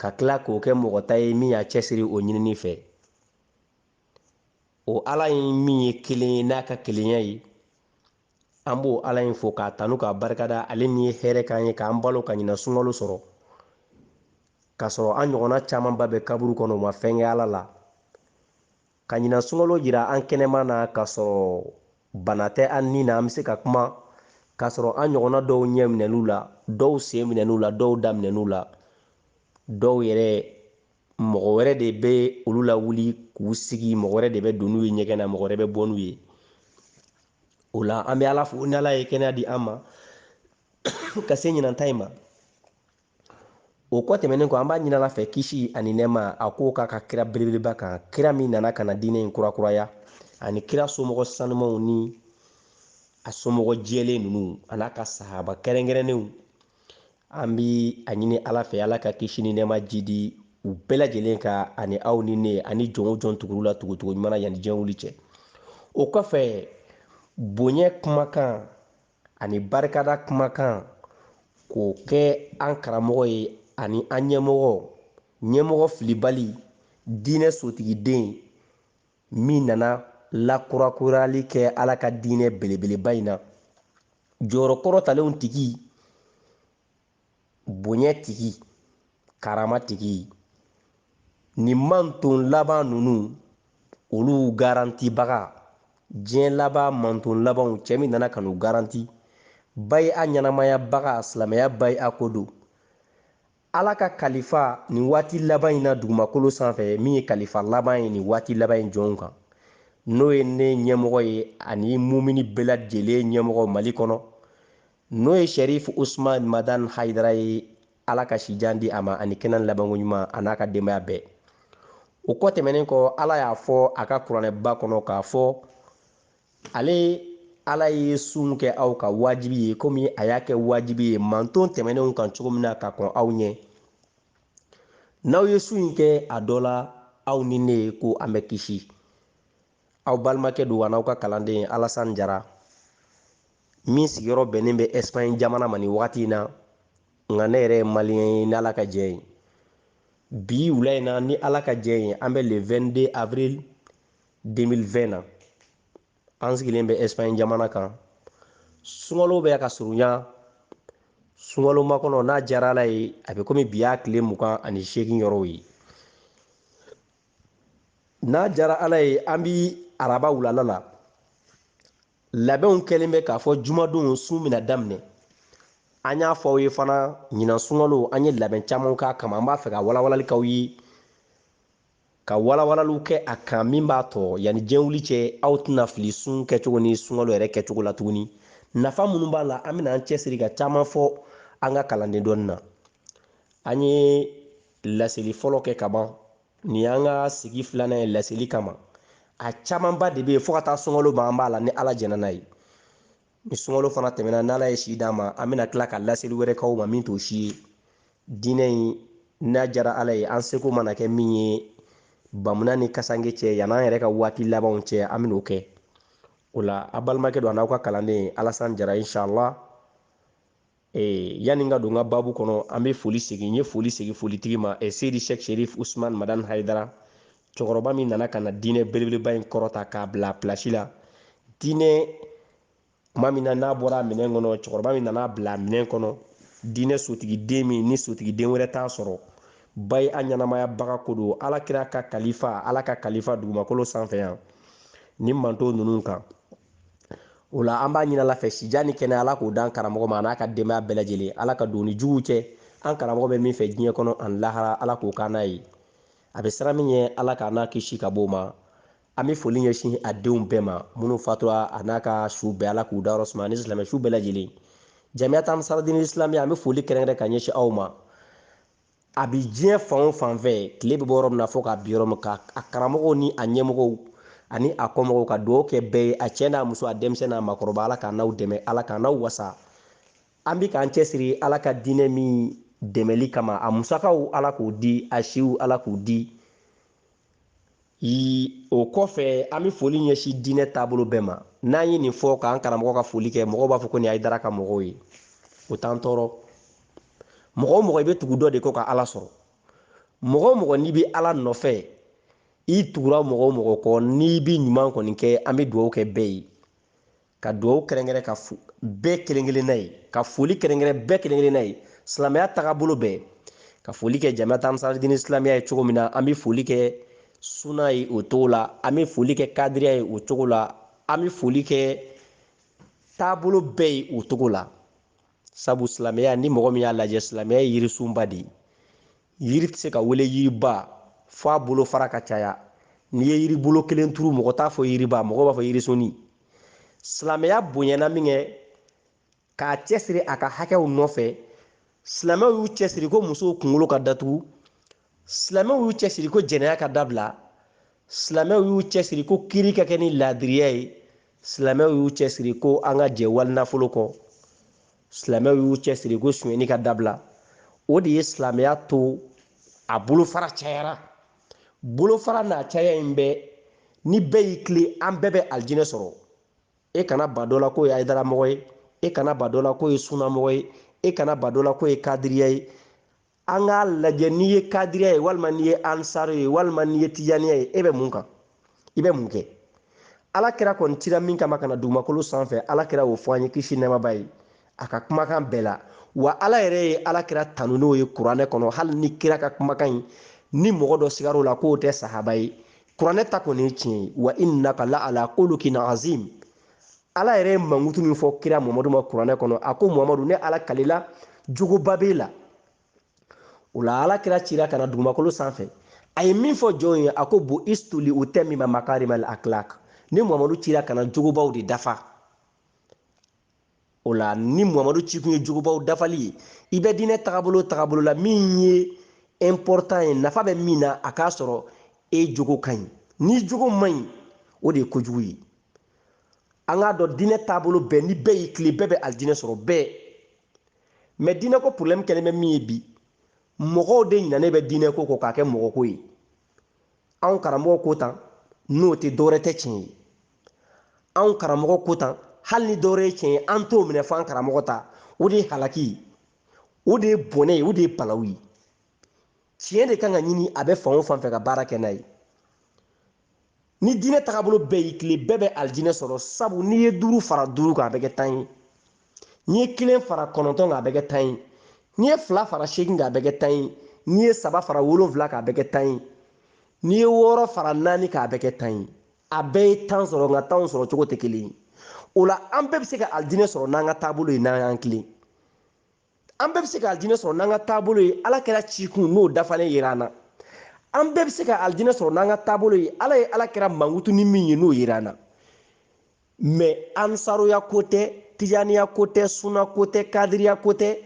ka tila k'o kɛ mɔgɔ ta ye min y'a cɛsiri o ɲinini fɛ o ala in min ye kelen ye n'a ka kelenya ye an b'o ala in fo k'a tanu k'a barikada ale min ye hɛrɛ k'an ye k'an balo ka ɲinan sunkalo sɔrɔ k'a sɔrɔ an ɲɔgɔnna camanba bɛ kaburu kɔnɔ u ma fɛn kɛ ala la Ka ɲinan sunkalo jira an kɛnɛma na k'a sɔrɔ bana tɛ an ni na, an bɛ se ka kuma k'a sɔrɔ an ɲɔgɔnna dɔw ɲɛ minɛn'u la, dɔw sen minɛn'u la, dɔw da minɛn'u la, dɔw yɛrɛ mɔgɔ wɛrɛ de bɛ olu la wuli k'u sigi, mɔgɔ wɛrɛ de bɛ don n'u ye ɲɛgɛn na, mɔgɔ wɛrɛ bɛ bɔ n'u ye. O la an bɛ Ala fo ni Ala ye kɛnɛya di an ma ka se ɲinan ta in ma. o kɔ tɛmɛnen kɔ an b'a ɲini ala fɛ kisi ani nɛma a k'o k'a ka kira belebeleba kan kira min nana ka na diinɛ in kurakuraya ani kira somɔgɔ sanumanw ni a somɔgɔ jɛlen ninnu an'a ka sahaba kɛrɛnkɛrɛnnenw an bi a ɲini ala fɛ ala ka kisi ni nɛma jidi u bɛɛ lajɛlen kan ani aw ni ne ani jɔn o jɔn tugur'u la tugutugu ɲuman na yanni diɲɛ wuli cɛ o kɔfɛ bonya kumakan ani barikada kumakan k'o kɛ an karamɔgɔ ye ani an ɲɛmɔgɔ ɲɛmɔgɔ filibali diinɛ sotigiden min nana lakurakurali kɛ ala ka diinɛ belebeleba in na jɔyɔrɔ kɔrɔtalenw tigi bonya tigi karama tigi nin manton laban ninnu olu garantibaga diɲɛ laban manton labanw cɛ min nana ka n'u garanti bayia ɲɛnamayabaga silamɛya bayia ko don ala ka kalifa nin waati laban in na dugumakolo sanfɛ min ye kalifa laban ye nin waati laban in jɔnw kan n'o ye ne ɲɛmɔgɔ ye ani mumini bɛɛ lajɛlen ɲɛmɔgɔ mali kɔnɔ n'o ye sɛrifu usman madan hayidara ye ala ka sijan di a ma ani kɛnɛ ni labanko ɲuman a n'a ka denbaya bɛɛ o kɔ tɛmɛnen kɔ ala y'a fɔ a ka kuranɛba kɔnɔ k'a fɔ ale ala ye sun kɛ aw kan wajibi ye komi a y'a kɛ wajibi ye manton tɛmɛnenw kan cogo min na ka kɔn aw ɲɛ n'aw ye sun in kɛ a dɔ la aw ni ne ko an bɛ kisi aw balimakɛ don a n'aw ka kalanden Alassane Diarra min sigiyɔrɔ bɛnnen bɛ Espagne jamana ma nin wagati in na nka ne yɛrɛ ye maliyɛn ye ni Ala ka jɛ ye bi wula in na ni Ala ka jɛ ye an bɛ le 22 avril 2020 na an sigilen bɛ Espagne jamana kan sunkalo bɛ ka surunya sunkalo makɔnɔ n'a diyara Ala ye a bɛ komi bi y'a tile mugan ani seegin yɔrɔw ye n'a jara ala ye an bi araba wulala la labɛnw kɛlen bɛ k'a fɔ jumadon sun bɛna daminɛ an y'a fɔ aw ye fana ɲinan sunkalo an ye labɛn caman k'a kama an b'a fɛ ka walawalali k'aw ye ka walawalaliw kɛ a kan min b'a to yanni diɲɛ wuli cɛ aw tɛna fili sun kɛcogo ni sunkalo yɛrɛ kɛcogo la tuguni nafa minnu b'a la an bɛna an cɛsiri ka caman fɔ an ka kalanden dɔɔni na an ye laseli fɔlɔ kɛ ka ban nin y'an ka sigi filanan ye laseli kama a camanba de bɛ yen fo ka taa sunkalo ban an b'a la ni ala jɛnna n'a ye ni sunkalo fana tɛmɛna n'ala ye si d'an ma an bɛna tila ka laseli wɛrɛ k'aw ma min t'o si ye diinɛ in n'a jara ala ye an seko mana kɛ min ye bamunan ni kasanke cɛ yan'an yɛrɛ ka waati labanw cɛ an bɛn'o kɛ o la a balimakɛ don an'aw ka kalanden alasan jara inshallah Eh, yanni n ka don n ka baabu kɔnɔ an bɛ foli segin n ye foli segin folitigi ma eh, seyidi sheikh sherif usman madani haidara cɛkɔrɔba min nana ka na diinɛ belebeleba in kɔrɔta k'a bila pilasi la diinɛ tuma min na n'a bɔra minɛn kɔnɔ cɛkɔrɔba min nan'a bila minɛn kɔnɔ diinɛ sotigiden min ni sotigiden wɛrɛ t'a sɔrɔ ba ye a ɲɛnamayabaga ko don ala kira ka kalifa ala ka kalifa dugumakolo sanfɛ yan ni mantɔn ninnu kan o la an b'a ɲini ala fɛ sijan ni kɛnɛ ala k'o d'an karamɔgɔ ma an'a ka denbaya bɛɛ lajɛlen ala ka don ni juguw cɛ an karamɔgɔ bɛ min fɛ diɲɛ kɔnɔ ani lahara ala k'o k'an n'a ye a bɛ siran min ɲɛ ala k'an n'a kisi ka b'o ma an bɛ foli ɲɛsin a denw bɛɛ ma minnu fatura a n'a ka su bɛɛ ala k'u dayɔrɔ suma ani silamɛ su bɛɛ lajɛlen jamiyat ansarudine islamiya an bɛ foli kɛrɛnkɛrɛn ka ɲɛsin aw ma a bi diɲɛ fan o fan fɛ tile bɛ bɔ yɔrɔ min na fo k'a bin yɔrɔ min kan a karamɔgɔw ni a ɲɛmɔgɔw ani a kɔmɔgɔw ka dugawu kɛ bɛɛ ye a cɛ n'a muso a denmisɛn n'a makɔrɔba ala k'an n'aw dɛmɛ ala k'an n'aw wasa an bi k'an cɛsiri ala ka diinɛ min dɛmɛli kama a musakaw ala k'o di a siw ala k'o di o kɔfɛ an bɛ foli ɲɛsin diinɛ taabolo bɛɛ ma n'an ye nin fɔ k'an karamɔgɔ ka foli kɛ mɔgɔw b'a fɔ ko nin haidara ka mɔgɔw ye o t'an tɔɔrɔ mɔgɔ o mɔgɔ i bɛ tugu dɔ de kɔ ka ala sɔrɔ mɔgɔ o mɔgɔ n'i bɛ ala nɔfɛ i tugura mɔgɔ o mɔgɔ kɔ n'i bɛ ɲuman kɔni kɛ an bɛ dugawu kɛ bɛɛ ye ka dugawu kɛrɛnkɛrɛn kɛ bɛɛ kelen-kelenna ye ka foli kɛrɛnkɛrɛn bɛɛ kelen-kelenna ye silamɛya tagabolo bɛɛ ka foli kɛ jamiyat ansarudine islamiya ye cogo min na an bɛ foli kɛ suna ye o cogo la an bɛ foli kɛ kadiriya ye o cogo la an bɛ foli kɛ taabolo bɛɛ ye o cogo la sabu silamɛya ni mɔgɔ min y'a lajɛ silamɛya ye yirisunba de ye yiri tɛ se ka wele yiriba fo a bolofara ka caya n'i ye yiribolo kelen turu mɔgɔ t'a fɔ yiriba mɔgɔ b'a fɔ yirisunnin silamɛya bonyana minkɛ k'a cɛsiri a ka hakɛw nɔfɛ silamɛw y'u cɛsiri ko musow kunkolo ka datugu silamɛw y'u cɛsiri ko jɛnɛya ka dabila silamɛw y'u cɛsiri ko kiri ka kɛ ni laadiriya ye silamɛw y'u cɛsiri ko an ka jɛ wali nafolo kɔ silamɛw y'u cɛsiri ko sunyɛni ka dabila o de ye silamɛya to a bolofara cayara bolofara n'a caya in bɛɛ ni bɛɛ y'i tilen an bɛɛ bɛ alijinɛ sɔrɔ e kana ba dɔ la k'o ye hayidaramɔgɔ ye e kana ba dɔ la k'o ye sunamɔgɔ ye e kana ba dɔ la k'o ye kadiriya ye an k'a lajɛ n'i ye kadiriya ye walima n'i ye ansaro ye walima n'i ye tijaniya ye e bɛ mun kan i bɛ mun kɛ ala kira kɔni cira min kama ka na dugumakolo sanfɛ ala kira y'o fɔ an ye kisi nɛmaba ye a ka kumakan bɛɛ la wa ala yɛrɛ ye ala kira tanu n'o ye kuranɛ kɔnɔ hali ni kira ka kumakan in ni mɔgɔ dɔ sigar'o la k'o tɛ sahaba ye kuranɛ ta kɔni ye tiɲɛ ye wa innaka la ala khuluqin azim ala yɛrɛ ye mankutu min fɔ kira muhamadu ma kuranɛ kɔnɔ a ko muhamadu ne ala kalila jogoba b'e la o la ala kira cira ka na dugumakolo sanfɛ a ye min fɔ jɔnw ye a ko bu'istu li utammima makarimal akhlaq ne muhamadu cira ka na jogobaw de dafa o la ni muhamadu cikun ye jogobaw dafali ye i bɛ diinɛ tagabolo tagabolo la min ye important ye nafa bɛ min na a k'a sɔrɔ e jogo ka ɲi n'i jogo man ɲi o de ye kojugu ye an k'a dɔn diinɛ taabolo bɛɛ ni bɛɛ y'i tilen bɛɛ bɛ alijinɛ sɔrɔ bɛɛ mɛ diinɛko porobilɛmu kɛlen bɛ min ye bi mɔgɔw de ɲinalen bɛ diinɛko kɔ k'a kɛ mɔgɔko ye anw karamɔgɔ ko tan n'o tɛ dɔwɛrɛ tɛ tiɲɛ ye anw karamɔgɔ ko tan hali ni dɔwɛrɛ ye tiɲɛ ye an t'o minɛ f'an karamɔgɔ ta o de ye halaki ye o de ye bɔnɛ ye o de ye balawu ye tiɲɛ de kan ka ɲini a bɛ fan o fan fɛ ka baara kɛ n'a ye ni diinɛ tagabolo bɛɛ y'i tilen bɛɛ bɛ alijinɛ sɔrɔ sabu n'i ye duuru fara duuru kan a bɛ kɛ tan ye n'i ye kelen fara kɔnɔntɔn kan a bɛ kɛ tan ye n'i ye fila fara seegin kan a bɛ kɛ tan ye n'i ye saba fara wolonfila kan a bɛ kɛ tan ye n'i ye wɔɔrɔ fara naani kan a bɛ kɛ tan ye a bɛɛ ye tan sɔrɔ nka tanw sɔrɔ cogo tɛ kelen ye o la an bɛɛ bɛ se ka alijinɛ sɔrɔ n'an ka taabolo ye n'an y'an tilen an bɛɛ bɛ se ka alijinɛ sɔrɔ n'an ka taabolo ye ala kira cikun n'o dafalen yera an na an bɛɛ bɛ se ka alijinɛ sɔrɔ n'an ka taabolo ye ala ye ala kira mankutu ni min ye n'o yera an na mɛ ansaroya ko tɛ tijaniya ko tɛ suna ko tɛ kadiriya ko tɛ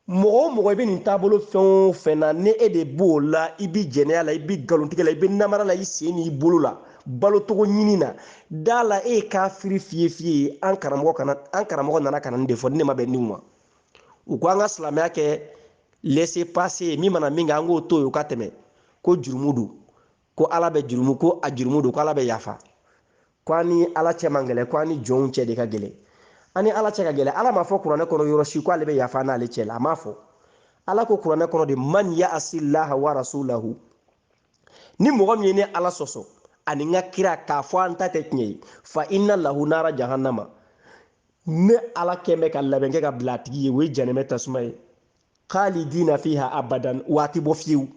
mɔgɔ o mɔgɔ i bɛ nin taabolo fɛn o fɛn na ni e de b'o la i bɛ jɛnɛya la i bɛ nkalontigɛ la i bɛ namara la i sen n'i bolo la balotogo ɲini na da la e ye kafiri fiye fiye ye an karamɔgɔ kana an karamɔgɔ nana kana nin de fɔ ni ne ma bɛn nin ma u ko an ka silamɛya kɛ laisser passer ye min mana min kɛ an k'o to yen o ka tɛmɛ ko jurumu don ko ala bɛ jurumu ko a jurumu don ko ala bɛ yafa ko an ni ala cɛ man gɛlɛn ko an ni jɔnw cɛ de ka gɛlɛn an ni ala cɛ ka gɛlɛn ala m'a fɔ kuranɛ kɔnɔ yɔrɔ si ko ale bɛ yafa n'ale cɛ la a m'a fɔ ala ko kuranɛ kɔnɔ de man ya'asillaha wa rasulahu ni mɔgɔ min ye ne ala sɔsɔ ani n ka kira k'a fɔ an ta tɛ tiɲɛ ye fa inna lahu nara jahannama ne ala kɛ n bɛ ka labɛn kɛ ka bila a tigi ye o ye janɛmɛ tasuma ye khalidina fiha abadan wa a tɛ bɔ fiyewu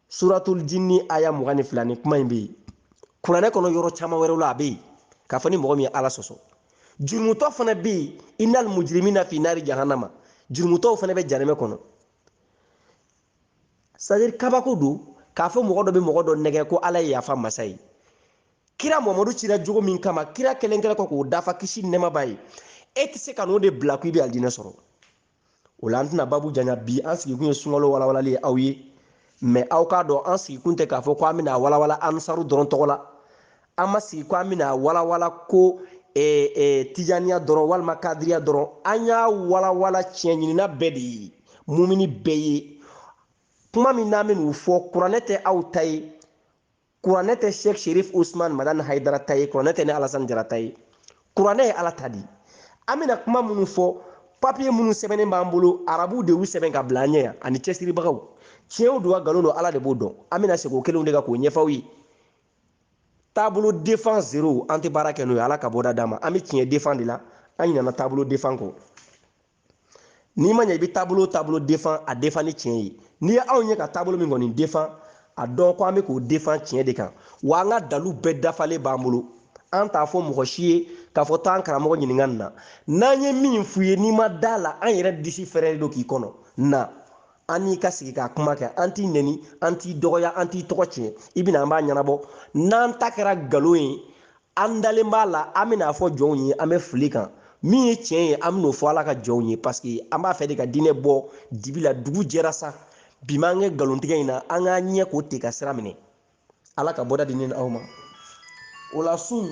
suratul jinni aya mugan ni fila nin kuma in bɛ yen kuranɛ kɔnɔ yɔrɔ caman wɛrɛw la a bɛ yen k'a fɔ ni mɔgɔ min ye ala sɔsɔ jurumutɔ fana bɛ yen innal mujrimina fi nari jahannama jurumutɔw fana bɛ janɛmɛ kɔnɔ c'est-à-dire kabako don k'a fɔ mɔgɔ dɔ bɛ mɔgɔ dɔ nɛgɛ ko ala ye yafa masa ye kira mamadu cira jogo min kama kira kelen kelen kɔ k'o dafa kisi nɛɛma b'a ye e tɛ se ka n'o de bila ko i bɛ alijinɛ sɔrɔ o la an tɛna babu janya bi an sigikun ye sunkalo walawalali ye aw ye mais aw k'a dɔn an sigikun tɛ k'a fɔ ko an bɛna a walawala ansaru dɔrɔn tɔgɔ la an ma sigi ko an bɛna walawala ko eh, eh, tijaniya dɔrɔn walima kadiriya dɔrɔn an y'a walawala tiɲɛ ɲinina bɛɛ de ye mumini bɛɛ ye kuma minnu an bɛn'u fɔ kuranɛ tɛ aw ta ye kuranɛ tɛ sheikh sherif usman madani haidara ta ye kuranɛ tɛ ne alasan jara ta ye kuranɛ ye ala ta di an bɛna kuma minnu fɔ papiye minnu sɛbɛnnen b'an bolo arabuw de y'u sɛbɛn ka bila an ɲɛ yan ani cɛsiribagaw tiɲɛw don wa nkalon don ala de b'o dɔn an bɛna segin o kelenw de kan k'o ɲɛfɔ aw ye taabolo defan zero an tɛ baara kɛ n'o ye ala ka bɔda d'an ma an bɛ tiɲɛ defan de la an ɲinana taabolo defan kɔ n'i ma ɲɛ i bɛ taabolo taabolo defan a defan ni tiɲɛ ye n'i ye anw ye ka taabolo min kɔni defan a dɔn ko an bɛ k'o defan tiɲɛ de kan wa an ka dalu bɛɛ dafalen b'an bolo an t'a fɔ mɔgɔ si ye k'a fɔ taa an karamɔgɔ ɲininka nin na n'an ye min f'u ye n'i ma da a la an yɛrɛ disi fɛrɛlen don k'i kɔnɔ na an n'i ka sigi k'a kuma kɛ an t'i neni an t'i dɔgɔya an t'i tɔgɔ tiɲɛ i bɛna an b'a ɲɛnabɔ n'an ta kɛra nkalon ye an dalen b'a la an bɛn'a fɔ jɔnw ye an bɛ fili kan min ye tiɲɛ ye an bɛn'o fɔ ala ka jɔnw ye parce que an b'a fɛ de ka diinɛ bɔ dibi la dugu jɛra sa bi m'an kɛ nkalontigɛ in na an k'an ɲɛ ko ten ka sira minɛ ala ka bɔda di ne ni aw ma o la sun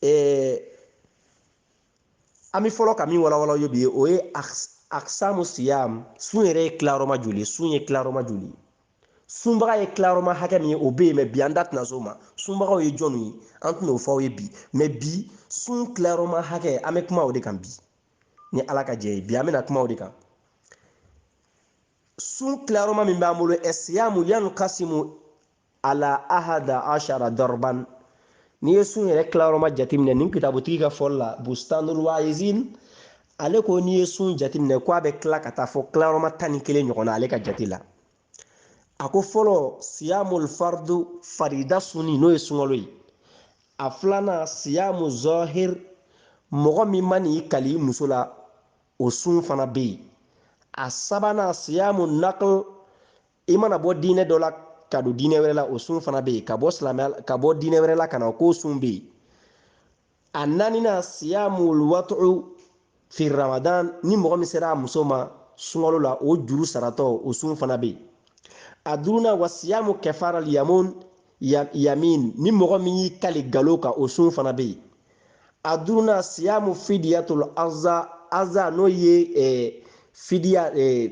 ɛɛ an bɛ fɔlɔ ka min walawala aw ye bi o ye aksamu siyam sun yɛrɛ ye tilayɔrɔma joli ye sun ye tilayɔrɔma joli ye sunbaga ye tilayɔrɔma hakɛ min ye o bɛ yen mais bi an da tɛna s'o ma sunbagaw ye jɔnw ye an tɛna o fɔ aw ye bi mais bi sun tilayɔrɔma hakɛ an bɛ kuma o de kan bi ni ala ka jɛn ye bi an bɛna kuma o de kan sun tilayɔrɔma min b'an bolo ɛsiyamu yankasimu ala ahada ashara darban n'i ye sun yɛrɛ tilayɔrɔma jateminɛ nin kitabutigi ka fɔli la bustanul waizin ale ko n'i ye sun jateminɛ ko a bɛ tila ka taa fɔ tilayɔrɔma tan ni kelen ɲɔgɔn na ale ka jate la a ko fɔlɔ siyamul fardu farida sunni n'o ye sunkalo ye a filanan siyamu zɔhir mɔgɔ min man'i kali i muso la o sun fana bɛ yen a sabanan siyamu nakl i mana bɔ diinɛ dɔ la ka don diinɛ wɛrɛ la o sun fana bɛ yen ka bɔ silamɛya ka bɔ diinɛ wɛrɛ la ka na o k'o sun bɛ yen a naaninan siyamul watu'u fi ramadan ni mɔgɔ min sera a muso ma sunkalo la o juru saratɔ o sun fana bɛ yen a duurunan wa siyamu kɛfara yamun yamin ni mɔgɔ min y'i kali galo kan o sun fana bɛ yen a duurunan siyamu fidiyatul aza aza n'o ye eh, fidiya eh,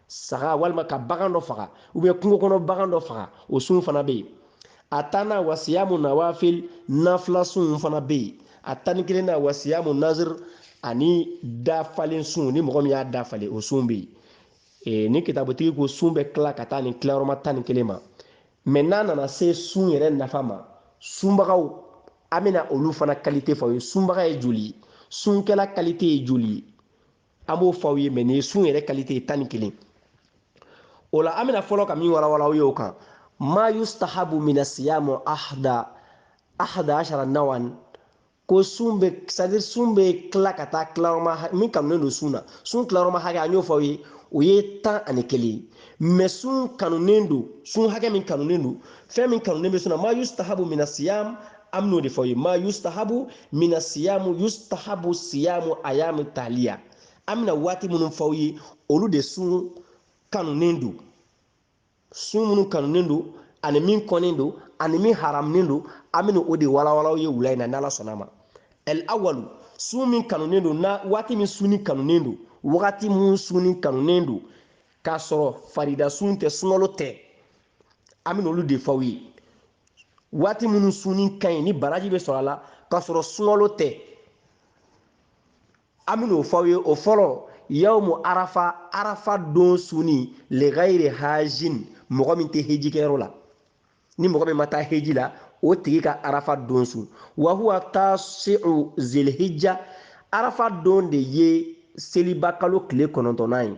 saga walima ka bagan dɔ faga ubiyɛn kungo kɔnɔ bagan dɔ faga o sun fana bɛ yen a tannan wa siyamu nawafil nafila sun fana bɛ yen a tan ni kelennan wa siyamu nazir ani dafalen sun ni mɔgɔ min y'a dafalen o sun bɛ yen nin kitabutigi ko sun bɛ tila ka taa nin tilayɔrɔma tan ni kelen ma mɛ n'a nana se sun yɛrɛ nafa ma sunbagaw an bɛna olu fana kalite fɔ aw ye sunbaga ye joli ye sunkɛla kalite ye joli ye an b'o fɔ aw ye mɛ nin ye sun yɛrɛ kalite ye tan ni kelen o la an bɛna fɔlɔ ka min walawala aw ye o kan ma yustahabu mina siyamu ahda ahda ashara nawan ko sun bɛ sadiri sun bɛ tila ka taa tilayɔrɔma min kanunen don sun na sun tilayɔrɔma hakɛ an y'o fɔ aw ye o ye tan ani kelen ye mɛ sun kanunen don sun hakɛ min kanunen don fɛn min kanunen bɛ sun na ma yustahabu mina siyam an bɛn'o de fɔ aw ye ma yustahabu mina siyamu yustahabu siyamu ayamu taliya an bɛna waati minnu fɔ aw ye olu de sun kanunen don sun minnu kanunen don ani min kɔnnen don ani min haramunen don an bɛna o de walawala aw ye wula in na n'ala sɔnna ma ɛl awalu sun min kanunen don na waati min sunni kanunen don wagati min sunni kanunen don k'a sɔrɔ farida sun tɛ sunkalo tɛ an bɛna olu de fɔ aw ye waati minnu sunni ka ɲi ni baraji bɛ sɔrɔ a la k'a sɔrɔ sunkalo tɛ an bɛn'o fɔ aw ye o fɔlɔ yawmu arafa arafa don sunni ligayiri hajin mɔgɔ min tɛ hejikɛyɔrɔ la ni mɔgɔ min ma taa heji la o tigi ka arafa don sun wa huwa tasi'u zilhijja arafa don de ye seliba kalo tile kɔnɔntɔnnan ye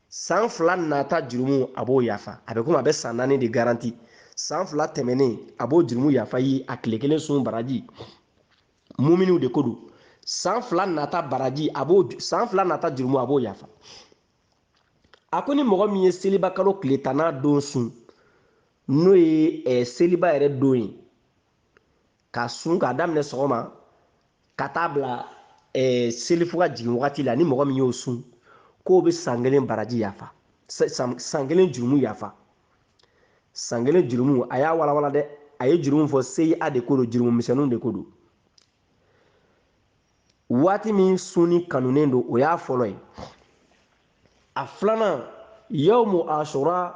san fila nata jurumu a b'o yafa a bɛ komi a bɛ san naani de garanti san fila tɛmɛnen a b'o jurumu yafa ye a tile kelen sun baraji muminiw de ko don san fila nata baraji a b'o san fila nata jurumu a b'o yafa a ko ni mɔgɔ min ye seliba kalo tile tanna don sun n'o ye eh, seliba yɛrɛ don ye ka sun k'a daminɛ sɔgɔma ka taa bila eh, selifu ka jigin wagati la ni mɔgɔ min y'o sun k'o bɛ san kelen baraji yafa san kelen jurumu yafa san kelen jurumu a y'a walawala dɛ a ye jurumu fɔ seyia de ko don jurumu misɛnninw de ko don waati min sunni kanunen don o y'a fɔlɔ ye a filanan yawmu asura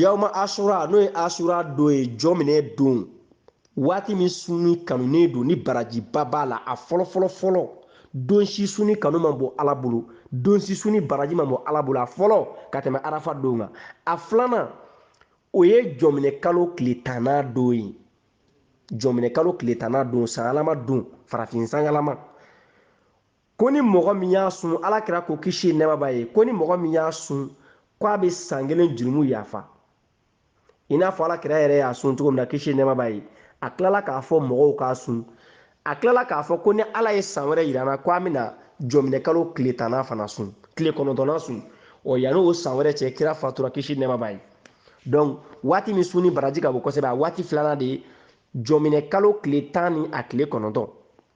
yawma asura n'o ye asura don ye jɔminɛ don waati min sunni kanunen don ni barajiba b'a la a fɔlɔ fɔlɔ fɔlɔ don si sunni kanu man bon ala bolo don si sunni baraji man bon ala bolo a fɔlɔ ka tɛmɛ arafa don kan a filanan o ye jɔminɛ kalo tile tanna don ye jɔminɛ kalo tile tanna don sanyɛlɛma don farafin sanyɛlɛma ko ni mɔgɔ min y'a sun ala kira ko kisi nɛma b'a ye ko ni mɔgɔ min y'a sun ko a bɛ san kelen jurumu yafa i n'a fɔ ala kira yɛrɛ y'a sun cogo min na kisi nɛma b'a ye a tilala k'a fɔ mɔgɔw k'a sun a tilala k'a fɔ ko ni ala ye san wɛrɛ yir'an na ko an bɛna jɔminɛ kalo tile tanna fana sun tile kɔnɔntɔnna sun ɔ yanni o san wɛrɛ cɛ kira fatura kisi nɛma b'a ye donc waati min sunni baraji ka bon kosɛbɛ a waati filanan de ye jɔminɛ kalo tile tan ni a tile kɔnɔntɔn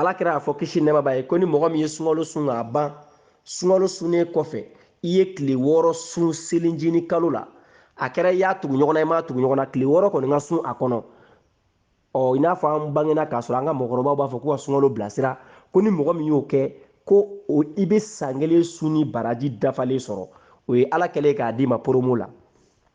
alakira y'a fɔ kisi nɛma b'a ye ko ni mɔgɔ min ye sunkalo sun k'a ban sunkalo sunnen kɔfɛ i ye tile wɔɔrɔ sun selincinin kalo la a kɛra i y'a tugu ɲɔgɔn na i m'a tugu ɲɔgɔn na tile wɔɔrɔ kɔni ka sun a kɔnɔ ɔ i n'a fɔ an bangena k'a sɔrɔ an ka mɔgɔkɔrɔbaw b'a fɔ k'u ka sunkalo bilasira ko ni mɔgɔ min y'o kɛ ko o i bɛ san kelen sunni baraji dafalen sɔrɔ o ye ala kɛlen k'a d'i ma promo la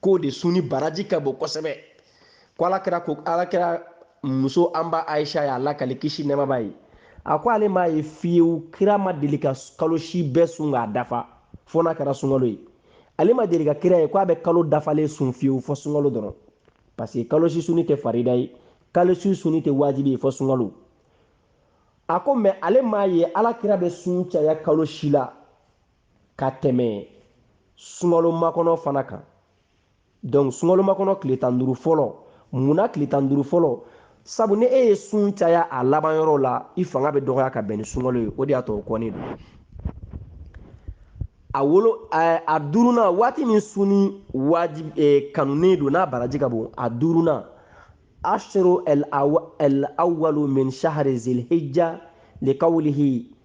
k'o de sunni baraji ka bon kosɛbɛ ko ala kira ko ala kira muso an ba ayisa ye a lakali kisi nɛma b'a ye a ko ale m'a ye fiyewu kira ma deli ka kalo si bɛɛ sun k'a dafa fo n'a kɛra sunkalo ye ale ma deli ka kira ye ko a bɛ kalo dafalen sun fiyewu fo sunkalo dɔrɔn parce que kalo si sunni tɛ farida ye kalo si sunni tɛ wajibi ye fo sunkalo a ko mais ale m'a ye ala kira bɛ sun caya kalo si la ka tɛmɛ sunkalo makɔnɔ fana kan donc sunkalo makɔnɔ tile tan duuru fɔlɔ mun na tile tan duuru fɔlɔ sabu ni e ye sun caya a laban yɔrɔ la i fanga bɛ dɔgɔya ka bɛn ni sunkalo ye o de y'a to o kɔnnen don a wolo a duurunan waati min sunni wajibi eh, kanunen don n'a baraji ka bon a duurunan ashro el awalu min shahri zilhijja likawlihi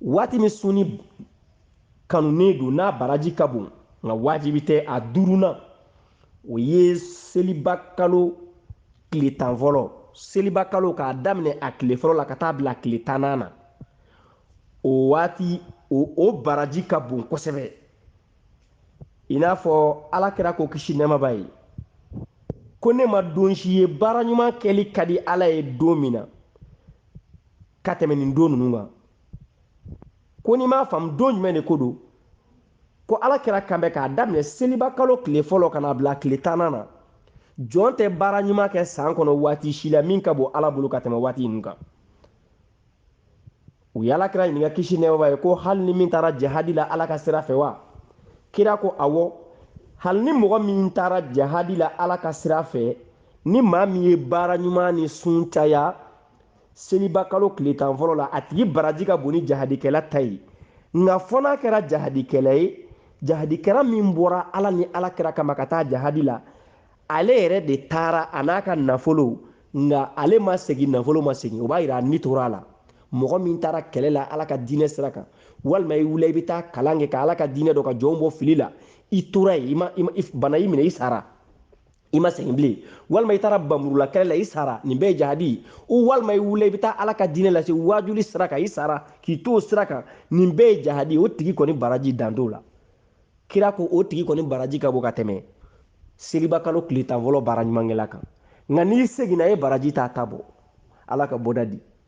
waati min sunni kanunen don n'a baraji ka bon nka wajibi tɛ a duurunan o ye seliba kalo tile tan fɔlɔ seliba kalo k'a daminɛ a tile fɔlɔ la ka taa bila tile tannan na o waati o baraji ka bon kosɛbɛ i n'a fɔ ala kira ko kisi nɛɛma b'a ye ko ne ma don si ye baara ɲuman kɛli ka di ala ye don min na ka tɛmɛ nin don ninnu kan ko n'i m'a faamu don jumɛn de ko don ko ala kira kan bɛ k'a daminɛ seliba kalo tile fɔlɔ ka na bila tile tannan na jɔn tɛ baara ɲuman kɛ san kɔnɔ waati si la min ka bon ala bolo ka tɛmɛ waati ninnu kan u ye ala kira ɲininka kisi nɛɛma b'a ye ko hali ni min taara jahadi la ala ka sira fɛ wa kira ko awɔ hali ni mɔgɔ min taara jahadi la ala ka sira fɛ ni maa min ye baara ɲuman ni sun caya seliba kalo tile tan fɔlɔ la a tigi baraji ka bon ni jahadikɛla ta ye nka fɔ n'a kɛra jahadikɛla ye jahadikɛla min bɔra ala ni ala kira kama ka taa jahadi la ale yɛrɛ de taara a n'a ka nafolo nka ale ma segin nafolo ma segin o b'a yira a ni tora a la mɔgɔ min taara kɛlɛ la ala ka diinɛ sira kan walima i wula i bɛ taa kalan kɛ ka ala ka diinɛ dɔn ka jɔnw bɔ fili la i tora yen bana y'i minɛ i sara i ma segin bilen walima i taara bamurula kɛlɛ la i sara nin bɛɛ ye jahadi ye walima i wula i bɛ taa ala ka diinɛ lase waajuli sira kan i sara k'i to o sira kan nin bɛɛ ye jahadi ye o tigi kɔni baraji dan t'o la kira ko o tigi kɔni baraji ka bon ka tɛmɛ seliba kalo tile tan fɔlɔ baara ɲumankɛla kan nka n'i seginna e baraji t'a ta bɔ ala ka bɔda di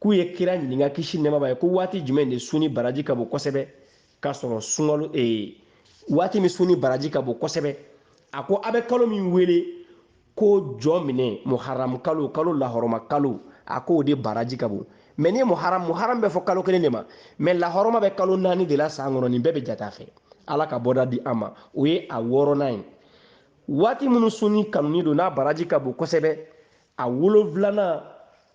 k'u ye kira ɲininka kisi nɛɛma b'a ye ko waati jumɛn de sunni baraji ka bon kosɛbɛ k'a sɔrɔ sunkalo ee waati min sunni baraji ka bon kosɛbɛ a ko a bɛ kalo min wele ko jɔminɛ muharam kalo kalo lahɔrɔma kalo a ko o de baraji ka bon mɛ ni muharam muharam bɛ fɔ kalo kelen de ma mɛ lahɔrɔma bɛ kalo naani de la san kɔnɔ nin bɛɛ bɛ jate a fɛ ala ka bɔda di an ma o ye a wɔɔrɔnan ye waati minnu sunni kanunen don n'a baraji ka bon kosɛbɛ a wolonfilanan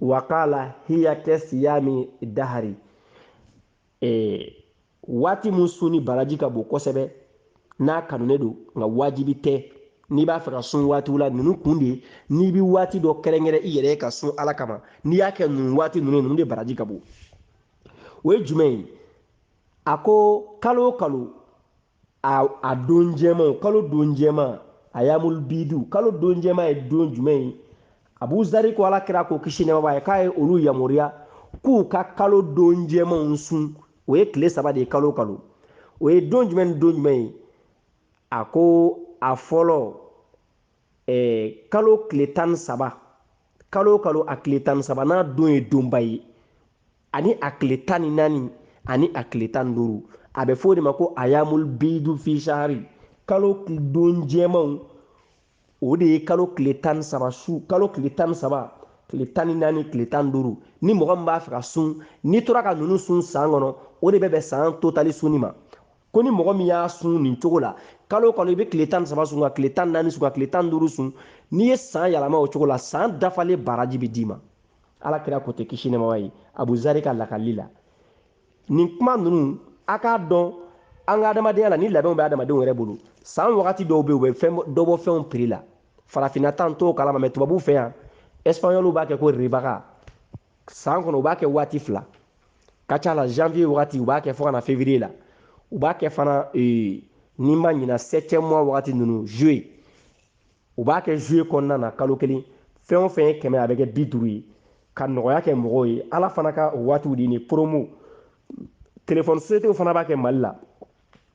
wakala hiya kɛ siyami dahari waati min sunni baraji ka bon kosɛbɛ n'a kanunen don nka wajibi tɛ n'i b'a fɛ ka sun waatiw la ninnu kun de ye n'i bɛ waati dɔ kɛrɛnkɛrɛn i yɛrɛ ka sun ala kama n'i y'a kɛ ninnu waati ninnu ninnu de baraji ka bon o ye jumɛn ye a ko kalo o kalo a don jɛman kalo don jɛman ayamul bidu kalo don jɛman ye don jumɛn ye abu zari ko ala kira ko kisi nɛɛma b'a ye k'a ye olu yamaruya k'u ka kalo don jɛmanw sun o ye tile saba de ye kalo o kalo o ye don jumɛn ni don jumɛn ye a ko a fɔlɔ eh, kalo tile tan ni saba kalo o kalo a tile tan ni saba n'a don ye donba ye ani a tile tan ni naani ani a tile tan ni duuru a bɛ f'o de ma ko ayamul bidu fi sahari kalo don jɛmanw o de ye kalo tile tan ni saba su kalo tile tan ni saba tile tan ni naani tile tan ni duuru ni mɔgɔ min b'a fɛ ka sun n'i tora ka ninnu sun san kɔnɔ o de bɛ bɛn san totali sunni ma ko ni mɔgɔ min y'a sun nin cogo la kalo o kalo i bɛ tile tan ni saba sun ka tile tan ni naani sun ka tile tan ni duuru sun n'i ye san yɛlɛma o cogo la san dafalen baraji bɛ d'i ma ala kira ko ten kisi nɛɛma b'a ye abu zari ka lakali la nin kuma ninnu a k'a dɔn an ka adamadenya la nin labɛnw bɛ adamadenw yɛrɛ bolo san wagati dɔw bɛ yen u bɛ fɛn dɔ bɔ fɛnw prix la farafinna ta n t'o kalama mais tubabuw fɛ yan ɛsipanyɔliw b'a kɛ ko ribaga san kɔnɔ u b'a kɛ waati fila ka ca la janvier wagati u b'a kɛ fo ka na février la u b'a kɛ fana eh, ni n ma ɲina septième mois wagati ninnu juillet u b'a kɛ juillet kɔnɔna na kalo kelen fɛn o fɛn ye kɛmɛ a bɛ kɛ bi duuru ye ka nɔgɔya kɛ mɔgɔw ye ala fana ka o waatiw de nin promo telefɔni sociétéw fana b'a kɛ mali la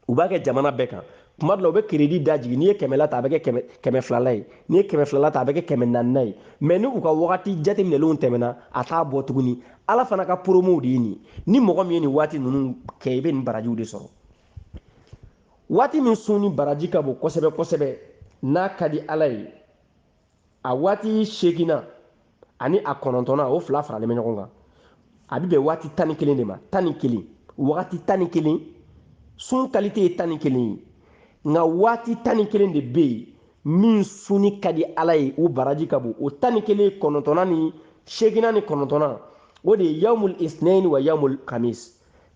u b'a kɛ jamana bɛɛ kan tuma dɔ la u bɛ keredi da jigin n'i ye kɛmɛla ta a bɛ kɛ kɛmɛ filala ye n'i ye kɛmɛ filala ta a bɛ kɛ kɛmɛ naanina ye mais ni u ka wagati jateminɛlenw tɛmɛna a t'a bɔ tuguni ala fana ka promow de ye nin ni mɔgɔ min ye nin waati ninnu kɛ i bɛ nin barajiw de sɔrɔ Waati min sunni baraji ka bon kosɛbɛ kosɛbɛ n'a ka di Ala ye, a waati seeginnan ani a kɔnɔntɔnnan, o fila faralen bɛ ɲɔgɔn kan, a bɛ bɛn waati tan ni kelen de ma, tan ni kelen, wagati tan ni kelen, sun kalite ye tan ni kelen ye, nka waati tan ni kelen de bɛ yen min sunni ka di Ala ye, o baraji ka bon, o tan ni kelen kɔnɔntɔnnan ni seeginnan ni kɔnɔntɔnnan, o de ye yawmul isnɛyini wa yawmul kamis.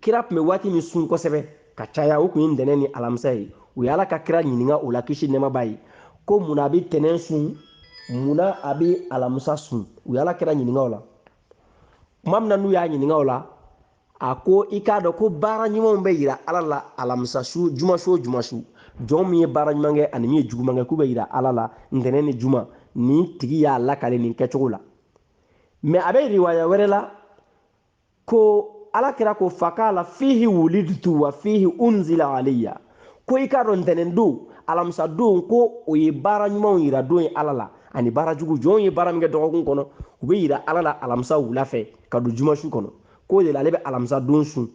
kira tun bɛ waati min sun kosɛbɛ ka caya o tun ye ntɛnɛn ni alamisa ye u ye ala ka kira ɲininka o la kisi nɛɛma b'a ye ko mun na a bɛ ntɛnɛn sun mun na a bɛ alamisa sun u ye ala kira ɲininka o la tuma min na n'u y'a ɲininka o la a ko i k'a dɔn ko baara ɲumanw bɛ yira ala la alamisa su juma su o juma su jɔn min ye baara ɲuman kɛ ani min ye juguman kɛ k'u bɛ yira ala la ntɛnɛn ni juma nin tigi y'a lakale nin kɛcogo la mais a bɛ riwaya wɛrɛ la ko ala kira ko fakala fihi wulidutu wa fihi unzila aleya ko i k'a dɔn ntɛnɛn don alamisa don ko o ye baara ɲumanw yira don ye ala la ani baara jugu jɔnw ye baara min kɛ dɔgɔkun kɔnɔ u bɛ yira ala la alamisa wula fɛ ka don juma su kɔnɔ k'o de la ale bɛ alamisa don sun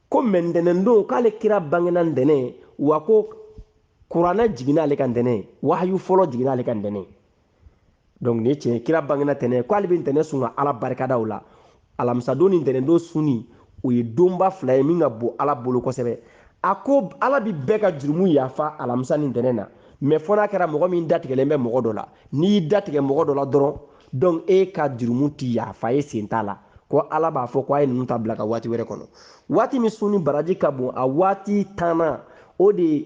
ko mais ntɛnɛn don k'ale kira bangena ntɛnɛn wa ko kuranɛ jiginna ale kan ntɛnɛn wahayu fɔlɔ jiginna ale kan ntɛnɛn donc nin ye tiɲɛ ye kira bangena ntɛnɛn ko ale bɛ ntɛnɛn sun ka ala barikada o la alamisadon ni ntɛnɛndon sunni o ye donba fila ye min ka bon ala bolo kosɛbɛ a ko ala bi bɛɛ ka jurumu yafa alamisa ni ntɛnɛn na mais fɔ n'a kɛra mɔgɔ min datigɛlen bɛ mɔgɔ dɔ la n'i y'i datigɛ mɔgɔ dɔ la dɔrɔn donc e ka jurumu ti yafa e sen t'a la ko ala b'a fɔ ko a ye ninnu ta bila ka waati wɛrɛ kɔnɔ waati min sunni baraji ka bon a waati tannan o de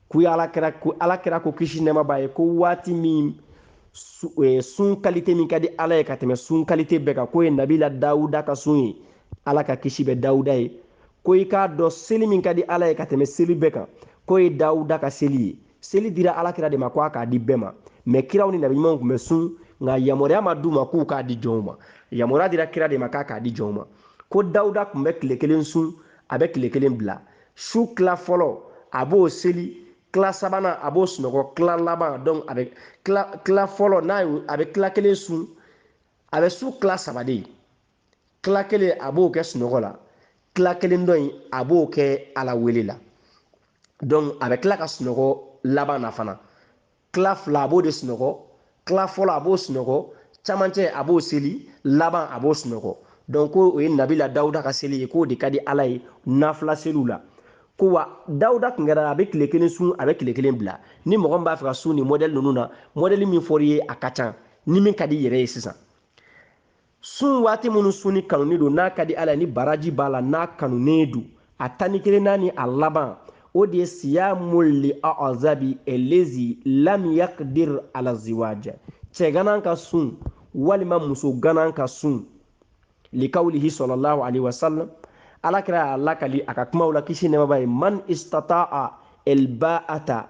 k'u ye ala kira ko kisi nɛma b'a ye ko waati min e, sun kalite min ka di ala ye ka tɛmɛ sun kalite bɛɛ kan k'o ye nabila dawuda ka sun ye ala ka kisi bɛ dawuda ye ko i k'a dɔn seli min ka di ala ye ka tɛmɛ seli bɛɛ kan k'o ye dawuda ka seli ye seli dira ala kira de ma ko a k'a di bɛɛ ma mais kiraw ni nabiɲumanw tun bɛ sun nka yamaruya ma d'u ma k'u k'a di jɔnw ma yamaruya dira kira de ma k'a k'a di jɔnw ma ko dawuda tun bɛ tile kelen sun a bɛ tile kelen bila su tila fɔlɔ a b'o seli tila sabanan a b'o sunɔgɔ tila laban donc a bɛ tila fɔlɔ n'a ye a bɛ tila kelen sun a bɛ su tila saba de tila kelen a b'o kɛ sunɔgɔ la tila kelen dɔ in a b'o kɛ ala wele la donc a bɛ tila ka sunɔgɔ laban na fana tila fila a b'o de sunɔgɔ tila fɔlɔ a b'o sunɔgɔ camancɛ a b'o seli laban a b'o sunɔgɔ donc ko o ye nabila dawuda ka seli ye k'o de ka di ala ye nafila seliw la ko wa dawuda tun kɛra a bɛ tile kelen sun a bɛ tile kelen bila ni mɔgɔ min b'a fɛ ka sun nin mɔdɛli ninnu na mɔdɛli min fɔr'i ye a ka ca ni min ka di i yɛrɛ ye sisan sun waati minnu sunni kanunen don n'a ka di ala ye ni baraji b'a la n'a kanunen don a tan ni kelenna ni a laban o de ye siyamu li azabi elezi lam yakdir ala ziwaja cɛ ganan ka sun walima muso ganan ka sun likawlihi sallallahu alaihi wasallam ala kira y'a lakali a ka kumaw la kisi nɛma b'a ye man istata'a elba'ata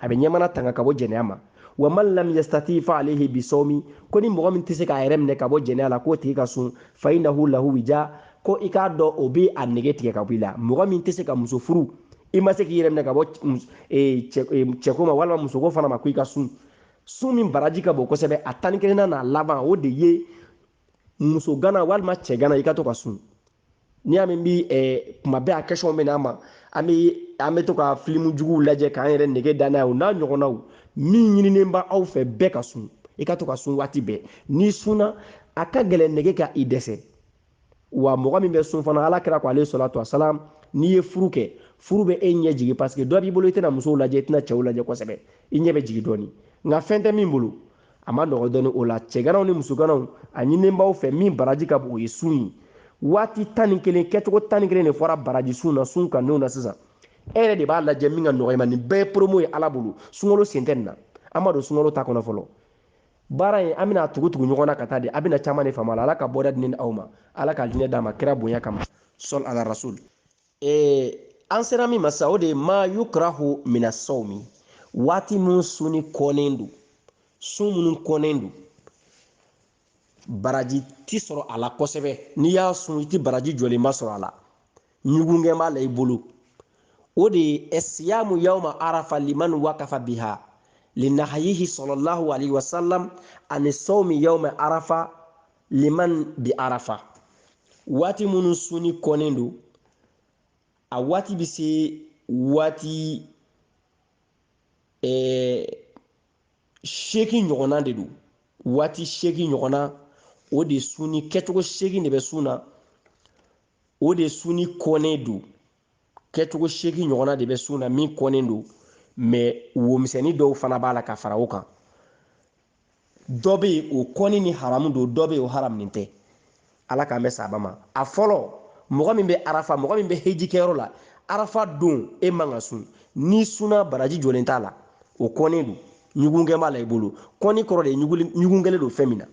a bɛ ɲɛmana tanga ka bɔ jɛnɛya ma wa man lam yastati fa alayhi bisawmi ko ni mɔgɔ min tɛ se k'a yɛrɛ minɛ ka bɔ jɛnɛya la k'o tigi ka sun fa innahu lahu wija ko i k'a dɔn o bɛ a nege tigɛ ka bɔ i la mɔgɔ min tɛ se ka muso furu i ma se k'i yɛrɛ minɛ ka bɔ e, e, cɛko ma walima musoko fana ma ko i ka sun sun min baraji ka bon kosɛbɛ a tan ni kelenna n'a laban o de ye muso gana walima cɛ gana i ka to ka sun n'i y'a mɛn bi eh, kuma bɛɛ a question bɛ n'an ma an bɛ an bɛ to ka filimu juguw lajɛ k'an yɛrɛ nege da n'a ye o n'a ɲɔgɔnnaw min ɲininen bɛ aw fɛ bɛɛ ka sun i ka to ka sun waati bɛɛ n'i sunna a ka gɛlɛn nege ka i dɛsɛ wa mɔgɔ min bɛ sun fana ala kira ko alaihi salatu wasalam n'i ye furu kɛ furu bɛ e ɲɛ jigin parce que dɔ b'i bolo i tɛna musow lajɛ i tɛna cɛw lajɛ kosɛbɛ i ɲɛ bɛ jigin dɔɔni nka fɛn tɛ min bolo a man nɔgɔ dɔɔni o la cɛganaw ni musoganaw a ɲininen b'aw fɛ min baraji ka bon o ye sun ye waati tan ni kelen kɛcogo tan ni kelen de fɔra baraji sun na sun kannenw na sisan e yɛrɛ de b'a lajɛ min ka nɔgɔ i ma nin bɛɛ ye promo ye ala bolo sunkalo sen tɛ nin na an ma don sunkalo ta kɔnɔ fɔlɔ baara in an bɛna tugu tugu ɲɔgɔn na ka taa de a bɛna caman de faamu a la ala ka bɔda di ni aw ma ala ka diinɛ d'a ma kira bonya kama sɔl ala rasul ee an sera min ma sa o de ye ma yukrahu mina sawmi waati minnu sunni kɔnnen don sun minnu kɔnnen don baraji ti sɔrɔ a la kosɛbɛ n'i y'a sun i ti baraji jɔlenba sɔrɔ a la ɲugunkɛ b'a la i bolo o de ye siyamu yawma arafa liman wakafa biha linahayihi sallallahu alaihi wasallam ani sawmi yawma arafa liman bi arafa waati minnu sunni kɔnnen don a waati bɛ se waati eh, seegin ɲɔgɔnna de don waati seegin ɲɔgɔnna o de sunni kɛcogo seegin de bɛ sun na o de sunni kɔnnen don kɛcogo seegin ɲɔgɔnna de bɛ sun na min kɔnnen don mɛ womisɛnnin dɔw fana b'a la ka fara o kan dɔ bɛ yen o kɔnni ni haramu don dɔ bɛ yen o haramu tɛ ala k'an bɛ saba ma a fɔlɔ mɔgɔ min bɛ arafa mɔgɔ min bɛ heji kɛyɔrɔ la arafa don e man ka sun n'i sunna baraji jɔlen t'a la o kɔnnen don ɲugunkɛ b'a la i bolo kɔnni kɔrɔ de ye ɲugun kɛlen don fɛn min na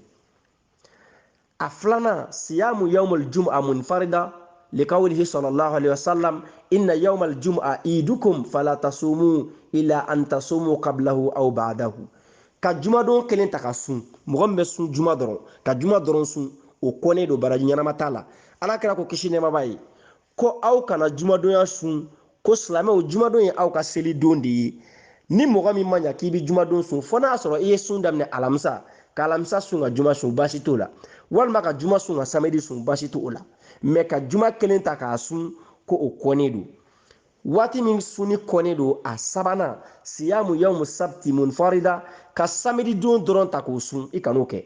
a filanan siyamu yawmal jum'a munfarida likawlihi sallallahu alaihi wasallam inna yawmal jum'a idukum fala tasumu illa an tasumu qablahu aw ba'dahu ka jumadon kelen ta ka sun mɔgɔ min bɛ sun juma dɔrɔn ka juma dɔrɔn sun o kɔnnen don baraji ɲɛnama t'a la ala kira ko kisi nɛɛma b'a ye ko aw kana jumadonya sun ko silamɛw jumadon ye aw ka seli don de ye ni mɔgɔ min ma ɲa k'i bɛ jumadon sun fo n'a sɔrɔ i ye sun daminɛ alamisa ka alamisa sun ka juma sun baasi t'o la walima ka juma sun ka samedi sun baasi t'o la mɛ ka juma kelen ta k'a sun ko o kɔnnen don waati min sunni kɔnnen don a sabanan siyamu yawmu sabti munfarida ka samedi don dɔrɔn ta k'o sun i kan'o kɛ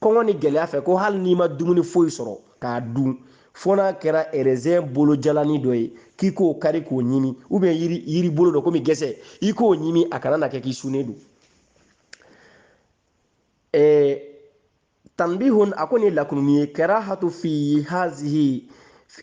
kɔngɔ ni gɛlɛya fɛ ko hali n'i ma dumuni foyi sɔrɔ k'a dun fo n'a kɛra erezɛn bolo jalani dɔ ye k'i k'o kari k'o ɲimi ou bien yiri yiri bolo dɔ komi gɛsɛ i k'o ɲimi a kana na kɛ k'i sunnen don ɛɛ tanbihun a ko nin lakununi ye karahatu fi hazihi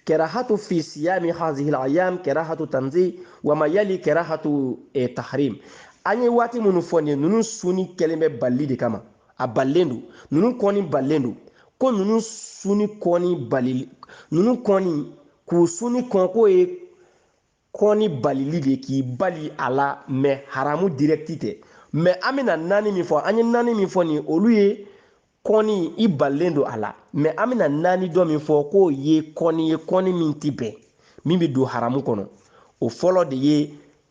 karahatu fi siyami hazihil ayam karahatu tanzih wama yali karahatu eh, tahrim an ye waati minnu fɔ nin ninnu sunni kɛlen bɛ balili de kama a balilen don ninnu kɔni balilen don ko ninnu sunni kɔni bali ninnu kɔni k'u sunni kɔn k'o ye kɔni balili de k'i bali a la mɛ haramu dirɛkiti tɛ mɛ an bɛna naani min fɔ an ye naani min fɔ nin olu ye kɔni i balilen don a la mɛ an bɛna naani dɔ min fɔ k'o ye kɔni ye kɔni min tɛ bɛn min bɛ don haramu kɔnɔ o fɔlɔ de ye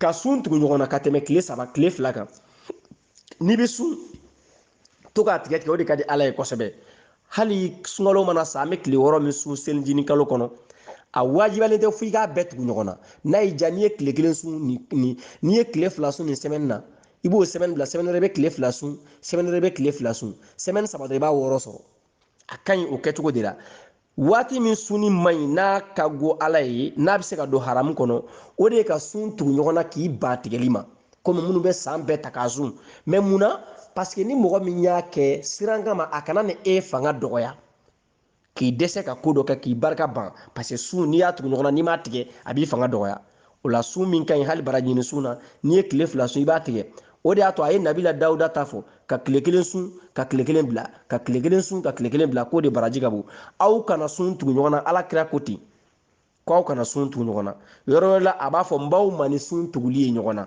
ka sun tugu ɲɔgɔn na ka tɛmɛ tile saba tile fila kan n'i bɛ sun to k'a tigɛ tigɛ o de ka di ala ye kosɛbɛ hali sunkalo mana sa an bɛ tile wɔɔrɔ min sun selinjini kalo kɔnɔ a wajibiyalen tɛ fo i k'a bɛɛ tugu ɲɔgɔn na n'a y'i diya n'i ye tile kelen sun nin nin n'i ye tile fila sun nin sɛmɛni na i b'o sɛmɛni bila sɛmɛni wɛrɛ i bɛ tile fila sun sɛmɛni wɛrɛ i bɛ tile fila sun sɛmɛni saba dɔrɔn i b'a wɔɔrɔ sɔrɔ a ka ɲi o kɛcogo de la waati min sunni man ɲi n'a ka go ala ye n'a bɛ se ka don haramu kɔnɔ o de ye ka sun tugu ɲɔgɔn na k'i ban tigɛli ma komi minnu bɛ san bɛɛ ta k'a sun mɛ mun na paseke ni mɔgɔ min y'a kɛ siran kama a kana na e fanga dɔgɔya k'i dɛsɛ ka ko dɔ kɛ k'i barika ban paseke sun n'i y'a tugu ɲɔgɔn na n'i m'a tigɛ a b'i fanga dɔgɔya o la sun min ka ɲi hali barajiɲini sun na n'i ye tile fila sun i b'a tigɛ o de y'a to a ye nabila dawuda ta fɔ ka tile kelen sun ka tile kelen bila ka tile kelen sun ka tile kelen bila k'o de baraji ka bon aw kana sun tugu ɲɔgɔn na ala kira ko ten ko aw kana sun tugu ɲɔgɔn na yɔrɔ wɛrɛ la a b'a fɔ n b'aw ma ni sun tuguli ye ɲɔgɔn na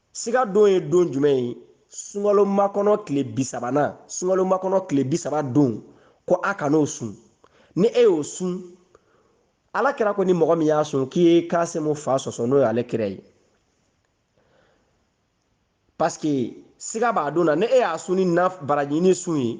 siga don ye don jumɛn ye sunkalo makɔnɔ tile bi sabanan sunkalo makɔnɔ tile bi saba don ko a kan'o sun ni e y'o sun ala kira ko ni mɔgɔ min y'a sun k'i ye kasimu fa sɔsɔ n'o y'ale kira ye paske siga b'a don na ni e y'a sun ni na barajiɲini sun ye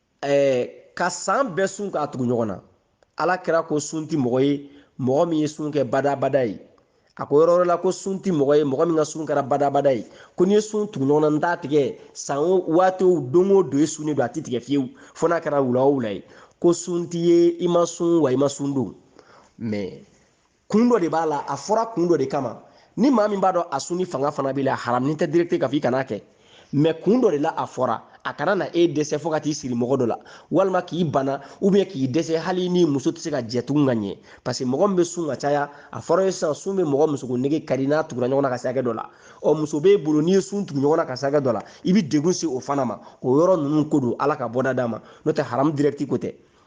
ɛɛ ka san bɛɛ sun k'a tugu ɲɔgɔn na ala kira ko sun ti mɔgɔ ye mɔgɔ min ye sun kɛ badabada ye a ko yɔrɔ wɛrɛ la ko sun ti mɔgɔ ye mɔgɔ min ka sun kɛra badabada ye ko n'i ye sun tugu ɲɔgɔn na n t'a tigɛ san o waati o don o don i sunnen don a ti tigɛ fiyewu fo n'a kɛra wula o wula ye ko sun t'i ye i ma sun wa i ma sun don mɛ kun dɔ de b'a la a fɔra kun dɔ de kama ni maa min b'a dɔn a sunni fanga fana b'i la haramu tɛ direct k'a fɔ i kan'a kɛ mɛ kun dɔ de la a fɔra a kana na e dɛsɛ fo ka t'i siri mɔgɔ dɔ la walima k'i bana ubiyɛn k'i dɛsɛ hali ni muso tɛ se ka jɛ tugun ka ɲɛ paseke mɔgɔ min bɛ sun ka caya a fɔra ye sisan sun bɛ mɔgɔ musoko nege kari n'a tugura ɲɔgɔn na ka se hakɛ dɔ la ɔ muso b'e bolo n'i ye sun tugu ɲɔgɔn na ka se hakɛ dɔ la i bɛ degun se o fana ma o yɔrɔ ninnu ko don ala ka bɔda d'a ma n'o tɛ haramu dirɛkiti ko tɛ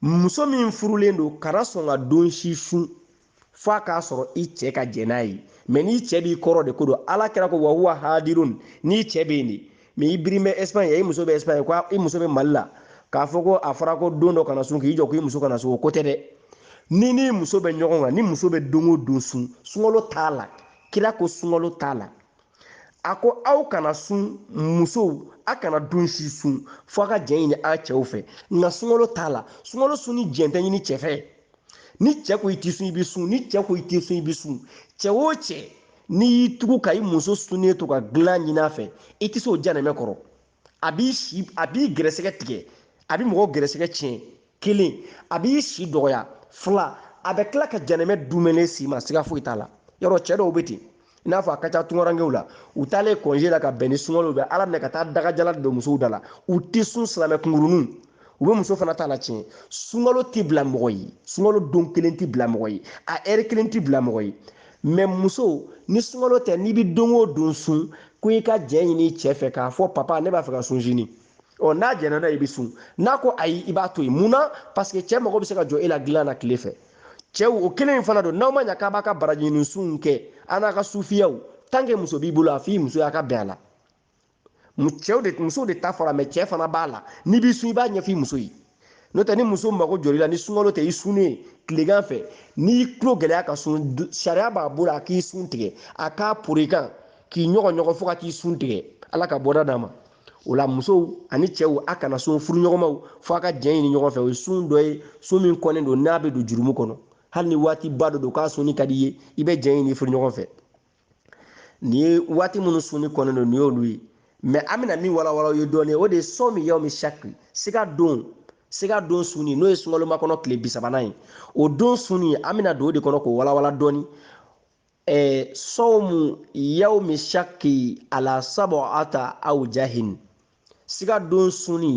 muso min furulen don kana sɔn ka don si sun f'a k'a sɔrɔ i cɛ ka jɛn n'a ye mɛ n'i cɛ b'i kɔrɔ de ko don ala kira ko wa huwa hadirun n'i cɛ bɛ yen de mɛ i birin bɛ espagne i muso bɛ espagne ko i muso bɛ mali la k'a fɔ ko a fɔra ko don dɔ kana sun k'i jɔ ko i muso kana sun o ko tɛ dɛ n'i n'i muso bɛ ɲɔgɔn kan ni muso bɛ don o don sun sunkalo t'a la kira ko sunkalo t'a la a ko aw kana sun musow a kana don si sun fo a ka jɛn ɲini a cɛw fɛ nka sunkalo t'a la sunkalo sun ni jɛn tɛ ɲini cɛ fɛ ni cɛ ko i ti sun i bɛ sun ni cɛ ko i ti sun i bɛ sun cɛ o cɛ n'i y'i tugu ka i muso sunnen to ka dilan ɲini a fɛ i tɛ se o janɛmɛ kɔrɔ a b'i si a b'i gɛrɛsɛgɛ tigɛ a bɛ mɔgɔ gɛrɛsɛgɛ tiɲɛ kelen a b'i si dɔgɔya fila a bɛ tila ka janɛmɛ dumɛnɛ si ma siga foyi t'a la yɔrɔ cɛ dɔw bɛ ten i n'a fɔ a ka ca tungarankew la u taalen kɔnze la ka bɛn ni sunkalo u bɛ ala minɛ ka taa dagajala don musow da la u tɛ sun silamɛ kunkuruninw u bɛ muso fana ta latiɲɛ sunkalo tɛ bila mɔgɔ ye sunkalo don kelen tɛ bila mɔgɔ ye a ɛri kelen tɛ bila mɔgɔ ye mɛ muso ni sunkalo tɛ n'i bɛ don o don sun ko i ka jɛn ɲini i cɛ fɛ k'a fɔ papa ne b'a fɛ ka sun sini ɔ n'a jɛnna n'a i bɛ sun n'a ko ayi i b'a to yen mun na paseke cɛ mago bɛ se ka jɔ e la dilan na tile fɛ cɛw o kelen in fana don n'aw ma ɲa k'a b'a ka baraji ɲini sunw kɛ an'a ka sufiyaw tanke muso b'i bolo a f'i muso y'a ka bɛn a la cɛw de musow de ta fɔra mɛ cɛ fana b'a la n'i b'i sun i b'a ɲɛfɔ i muso ye n'o tɛ ni muso mago jɔr'i la ni sunkalo tɛ i sunnen ye tilegan fɛ n'i y'i tulo gɛlɛya ka sun sariya b'a bolo a k'i sun tigɛ a k'a poron i kan k'i ɲɔgɔɲɔgɔ fo ka t'i sun tigɛ ala ka bɔda d'a ma o la musow ani cɛw a kana sun furuɲɔgɔnmaw fo a ka jɛn ɲini ɲɔgɔn fɛ o ye sun dɔ ye sun min kɔnnen don n'a bɛ don jurumu kɔnɔ hali ni waatiba dɔ don k'a sunni ka di i ye i bɛ jɛn ɲini furuɲɔgɔn fɛ nin ye waati minnu sunni kɔnnen don nin y'olu ye mɛ an bɛna min walawala ye dɔɔnin o de ye sɔmu yawmi shakki siga don siga don sunni n'o ye sunkaloma kɔnɔ tile bisabanan ye o don sunni an bɛna don o de kɔnɔ k'o walawala dɔɔnin ɛɛ sawmu yawmi shakki ala sab'ata awjahin siga don sunni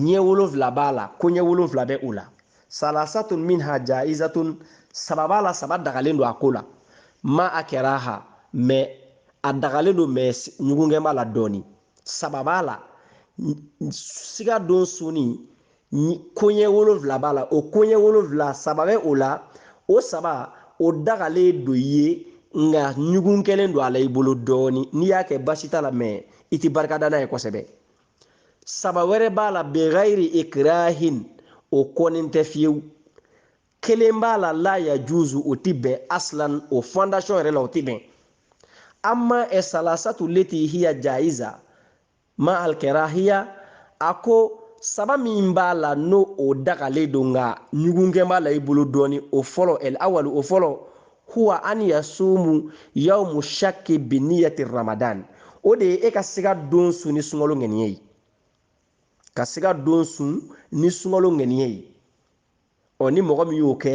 ɲɛ wolonfila b'a la koɲɛ wolonfila bɛ o la salasatun minha jaizatun saba b'a la saba dagalen don a ko la ma alkɛraha mɛ a dagalen don mɛ ɲugunkɛ b'a la dɔɔni saba b'a la siga don sunni koɲɛ wolonfila b'a la o koɲɛ wolonfila saba bɛ o la o saba o dagalen don i ye nka ɲugun kɛlen don a la i bolo dɔɔni n'i y'a kɛ basi t'a la mɛ i tɛ barika da n'a ye kosɛbɛ saba wɛrɛ b'a la bigayiri ikirahin o kɔnnen tɛ fiyewu kelen b'a la la yajuzu o tɛ bɛn aslan o fondation yɛrɛ la o tɛ bɛn amma esalasatu leti hiya jaiza ma alkɛrahiya a ko saba min b'a la n'o o dagalen don nka ɲugunkɛ b'a la i bolo dɔɔni o fɔlɔ el awali o fɔlɔ huwa an yasumu yawmu shakki biniyati ramadan o de ye e ka siga don sun ni sunkalo ŋaniye ye ka siga don sun ni sunkalo ŋaniye ye ɔ ni mɔgɔ min y'o kɛ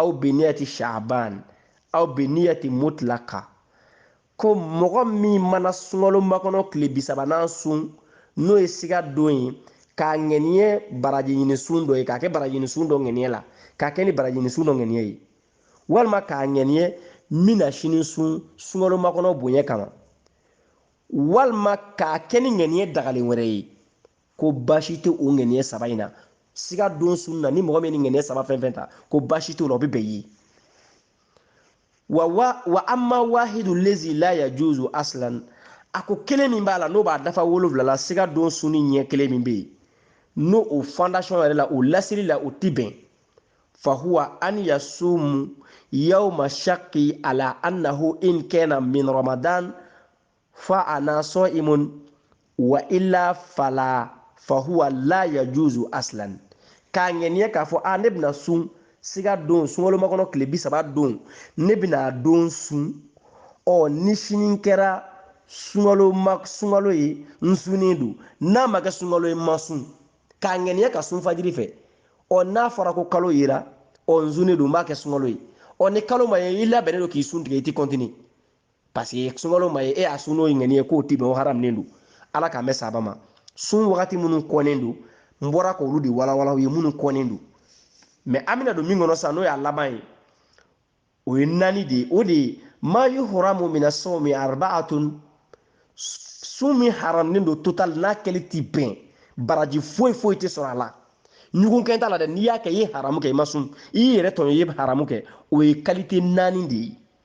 aw biniyati shaban aw biniyati mutlaka ko mɔgɔ min mana sunkalomakɔnɔ tile bisabanan sun n'o ye siga don ye k'a ŋɛniye baraji ɲini sun dɔ ye k'a kɛ baraji ɲini sun dɔ ŋɛniye la k'a kɛ ni baraji ɲini sun dɔ ŋɛniye ye walima k'a ŋɛniye n bɛna sini sun sunkalomakɔnɔ bonya kama walima k'a kɛ ni ŋɛniye dagalen wɛrɛ ye ko baasi tɛ o ŋaniya saba in na siga don sun na ni mɔgɔ min ni ŋaniya saba fɛn fɛn ta ko baasi t'o la o bɛ bɛn ye wa wa wa amma wahidu lazi la yajuzu aslan a ko kelen min b'a la n'o b'a dafa wolonwula la siga don sunni ɲɛ kelen min bɛ yen n'o o fondation yɛrɛ la o lasiri la o ti bɛn fahuwa an yasumu yawma shakki ala annahu in kana min ramadan fa ana sa'imun wa illa fala fa huwa la yajuzu aslan k'a ŋɛniya k'a fɔ a ne bɛna sun siga don sunkalomakɔnɔ tile bisaba don ne bɛna don sun ɔ ni sini kɛra sunkalo ye n sunnen don n'a ma kɛ sunkalo ye n ma sun k'a ŋɛniya ka sun fajiri fɛ ɔ n'a fɔra ko kalo yera ɔ n sunnen don n b'a kɛ sunkalo ye ɔ ni kalo ma ye i labɛnnen don k'i sun tigɛ i ti continue parce que sunkalo ma ye e y'a sun n'o ye ŋɛniye k'o ti bɛn o haramunen don ala k'an bɛɛ saba ma sun wagati minnu kɔnnen don n bɔra k'olu de walawala aw ye minnu kɔnnen don mais an bɛna don min kɔnɔ sisan n'o y'a laban ye o ye naani de ye o de ye ma yuhramu mina sawmi arbaatun sun min haramunen don total n'a kɛli ti bɛn baraji foyi foyi tɛ sɔrɔ a la ɲugun kɛn t'a la dɛ n'i y'a kɛ i ye haramu kɛ i ma sun i y'i yɛrɛ tɔɲɔ i ye haramu kɛ o ye qualité naani de ye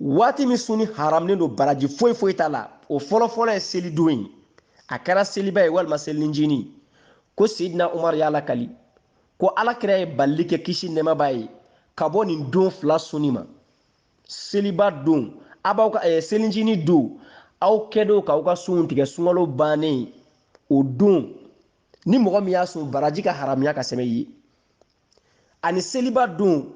waati min sunni haramunen don baraji foyi foyi t'a la o fɔlɔfɔlɔ ye selidon ye a kɛra seliba ye walima selinjini ko sidina umaru y'a lakali ko alakira ye balili kɛ kisi nɛɛma b'a ye ka bɔ nin don fila sunni ma seliba don a b'aw ka eh, selinjini don aw kɛdon k'aw ka sunw tigɛ sunkalo bannen o don ni mɔgɔ min y'a sun baraji ka haramuya ka sɛbɛn i ye ani seliba don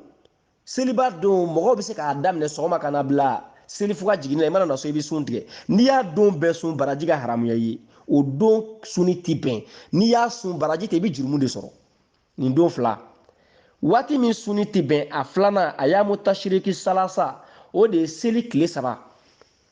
seliba don mɔgɔw bɛ se k'a daminɛ sɔgɔma ka na bila seli fo ka jiginni na i mana na so i bɛ sun tigɛ n'i y'a don bɛɛ sun baraji ka haramuya i ye o don sunni ti bɛn n'i y'a sun baraji tɛ i bɛ jurumu de sɔrɔ nin don fila waati min sunni tɛ bɛn a filanan ayyamu tashiriki salasa o de ye seli tile saba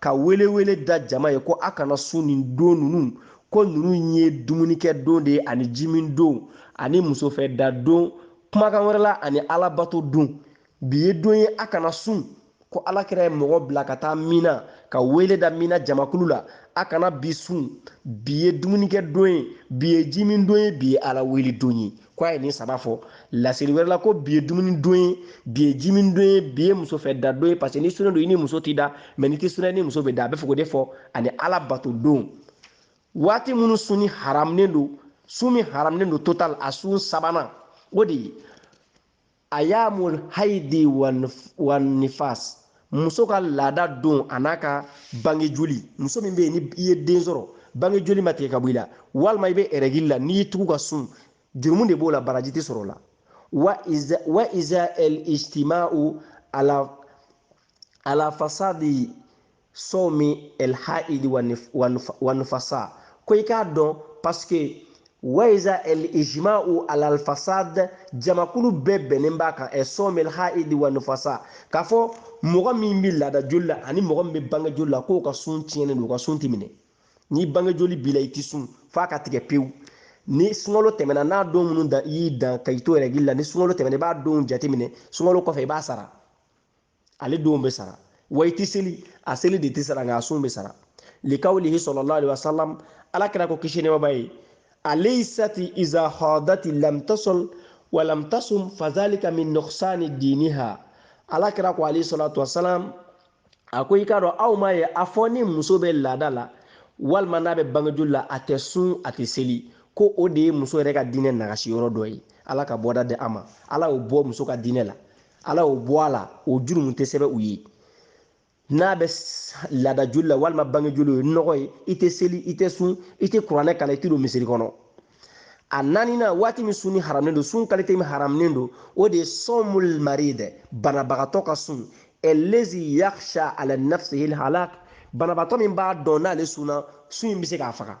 ka welewele da jama ye ko a kana sun nin don ninnu ko ninnu ye dumunikɛ don de ye ani jimin don ani musofɛda don kumakan wɛrɛ la ani alabato don bi ye don ye a kana sun ko alakira ye mɔgɔ bila ka taa mina ka wele da mina jamakulu la a kana bi sun bi ye dumunikɛ don ye bi ye jimin don ye bi ye ala wele don ye ko a ye nin saba fɔ laseli wɛrɛ la ko bi ye dumuni don ye bi ye jimin don ye bi ye muso fɛ da don ye parce que n'i sunnen don i ni muso t'i da mɛ n'i tɛ sun na i ni muso bɛ da a bɛ fɔ k'o de fɔ ani ala bato don waati minnu sunni haramunen don sun min haramunen don total a sun sabanan o de ye ayamul haidi wa nifas muso ka laada don a n'a ka bange joli muso min bɛ yen ni i ye den sɔrɔ bange joli ma tigɛ ka bɔ i la walima i bɛ ɛrɛgili la n'i y'i tugu ka sun jurumu de b'o la baraji tɛ sɔrɔ o la wa iza el ijtima'u ala fasadi somi el haidi wa nufasa ko i k'a dɔn paske wa iza el ijma'u alal fasad jamakulu bɛɛ bɛnnen b'a kan ɛ somi el haidi wa nufasa k'a fɔ mɔgɔ min bɛ laada joli la ani mɔgɔ min bɛ bange joli la k'o ka sun tiɲɛnen don o ka sun tɛ minɛ ni bange joli b'i la i tɛ sun f'a ka tigɛ pewu ni sunkalo tɛmɛna n'a don minnu dan i y'i dan ka i to ɛrɛgili la ni sunkalo tɛmɛna i b'a don jateminɛ sunkalo kɔfɛ i b'a sara ale don bɛ sara wa i tɛ seli a seli de tɛ sara nka a sun bɛ sara likawlihi sallallahu alaihi wasallam ala kira ko kisi nɛɛma b'a ye alaysati iza hadati lam tasal wa lam tasum fadhalika min nuqsani diniha ala kira ko alayhi salatu wasalam a ko i k'a dɔn aw m'a ye a fɔ ni muso bɛ laada la walima n'a bɛ bange joli la a tɛ sun a tɛ seli ko o de ye muso yɛrɛ ka diinɛ nagasi yɔrɔ dɔ ye ala ka bɔda di a ma ala y'o bɔ muso ka diinɛ la ala y'o bɔ a la o jurumu tɛ sɛbɛn u ye n'a bɛ laada joli la walima bange joli ye nɔgɔ ye i tɛ seli i tɛ sun i tɛ kuranɛ kalan i tɛ don misiri kɔnɔ a naaninan waati min sunni haramunen don sun kalite min haramunen don o de ye sɔmul marid banabagatɔ ka sun allazi yakhsha ala nafsihi halak banabagatɔ min b'a dɔn n'ale sunna sun in bɛ se k'a faga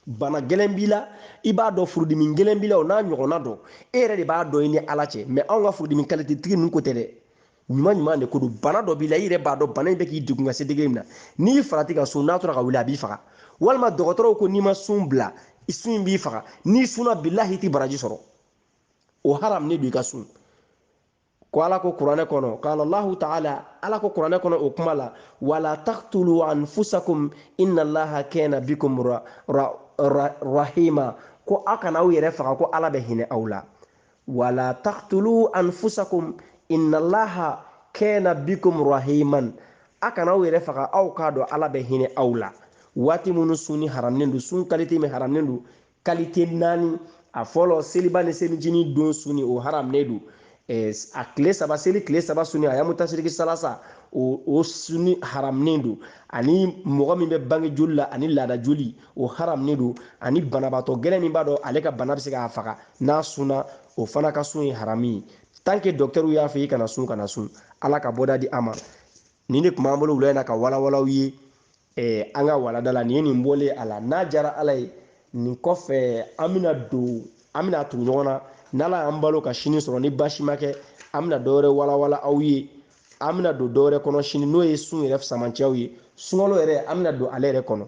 bana gɛlɛn b'i la i b'a dɔn furudimi gɛlɛn b'i la o n'a ɲɔgɔnna dɔ e yɛrɛ de b'a dɔn i ni ala cɛ mɛ anw ka furudimi kalite tigi ninnu ko tɛ dɛ ɲuman ɲuman de ko don bana dɔ b'i la i yɛrɛ b'a dɔn bana in bɛ k'i degun ka se degre min na n'i farati ka sun n'a tora ka wuli a b'i faga walima dɔgɔtɔrɔw ko n'i ma sun bila sun in b'i faga n'i sunna bilahi i tɛ baraji sɔrɔ o haramunen don i ka sun ko ala ko kuranɛ kɔnɔ qala allahu taala ala ko kuranɛ kɔnɔ o kuma la wala taktulu anfusakum inna allaha kana bikum ra, ra, ra, rahima ko aw kana aw yɛrɛ faga ko ala bɛ hinɛ aw la wala taktulu anfusakum inna allaha kana bikum rahiman a kana aw yɛrɛ faga aw k'a dɔn ala bɛ hinɛ aw la waati minnu sunni haramunen don sun kalite min haramunen don kalite naani a fɔlɔ seliba ni selicinin don sunni o haramunen don a tile saba seli tile saba sunni ayamu tasiriki salasa o o sunni haramunen don ani mɔgɔ min bɛ bange joli la ani laada joli o haramunen don ani banabaatɔ gɛlɛn min b'a dɔn ale ka bana bɛ se k'a faga n'a sunna o fana ka sun ye haramu ye tant que dɔkitɛriw y'a fɔ i kana sun kana sun ala ka bɔda di a ma nin de tun b'an bolo wula in na ka walawala aw ye eh, an ka walanda la nin ye nin bɔlen a la n'a diyara ala ye nin kɔfɛ an bɛna don an bɛna tugu ɲɔgɔn na n'ala y'an balo ka sini sɔrɔ ni baasi ma kɛ an bɛna dɔwɛrɛ walawala aw ye an bɛna don dɔwɛrɛ kɔnɔ sini n'o ye sun yɛrɛ samasenw ye sunkalo yɛrɛ an bɛna don ale yɛrɛ kɔnɔ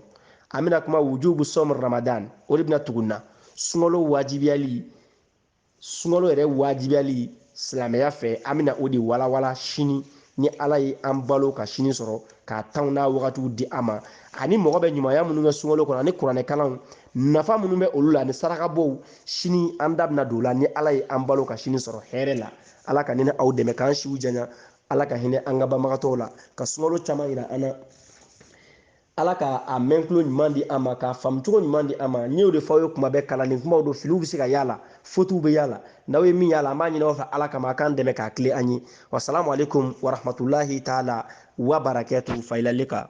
an bɛna kuma wujubu sɔm ramadan o de bɛna tugu na sunkalo wajibiyali sunkalo yɛrɛ wajibiyali silamɛya fɛ an bɛna o de walawala sini ni ala ye an balo ka sini sɔrɔ k'a tanw n'a wagatiw di an ma ani mɔgɔ bɛ ɲumanya minnu kɛ sunkalo kɔnɔ ani kuranɛ kalanw nafa minnu bɛ olu la ani sarakabɔw sini an da bɛna don o la ni ala ye an balo ka sini sɔrɔ hɛrɛ la ala ka ne ni aw dɛmɛ k'an siw janya ala ka hinɛ an ka banbagatɔw la ka sunkalo caman yira an na ala ka a mɛntulo ɲuman di an ma k'a faamucogo ɲuman di an ma n y'o de fɔ aw ye kuma bɛɛ kalanden kumaw don filiw bɛ se ka y'a la fotiw bɛ y'a la n'aw ye min y'a la an b'a ɲini aw fɛ ala kama a k'an dɛmɛ k'a tilen an ye wasalamu aleykum warahmatulahi taala wa barakatu fa ilal lika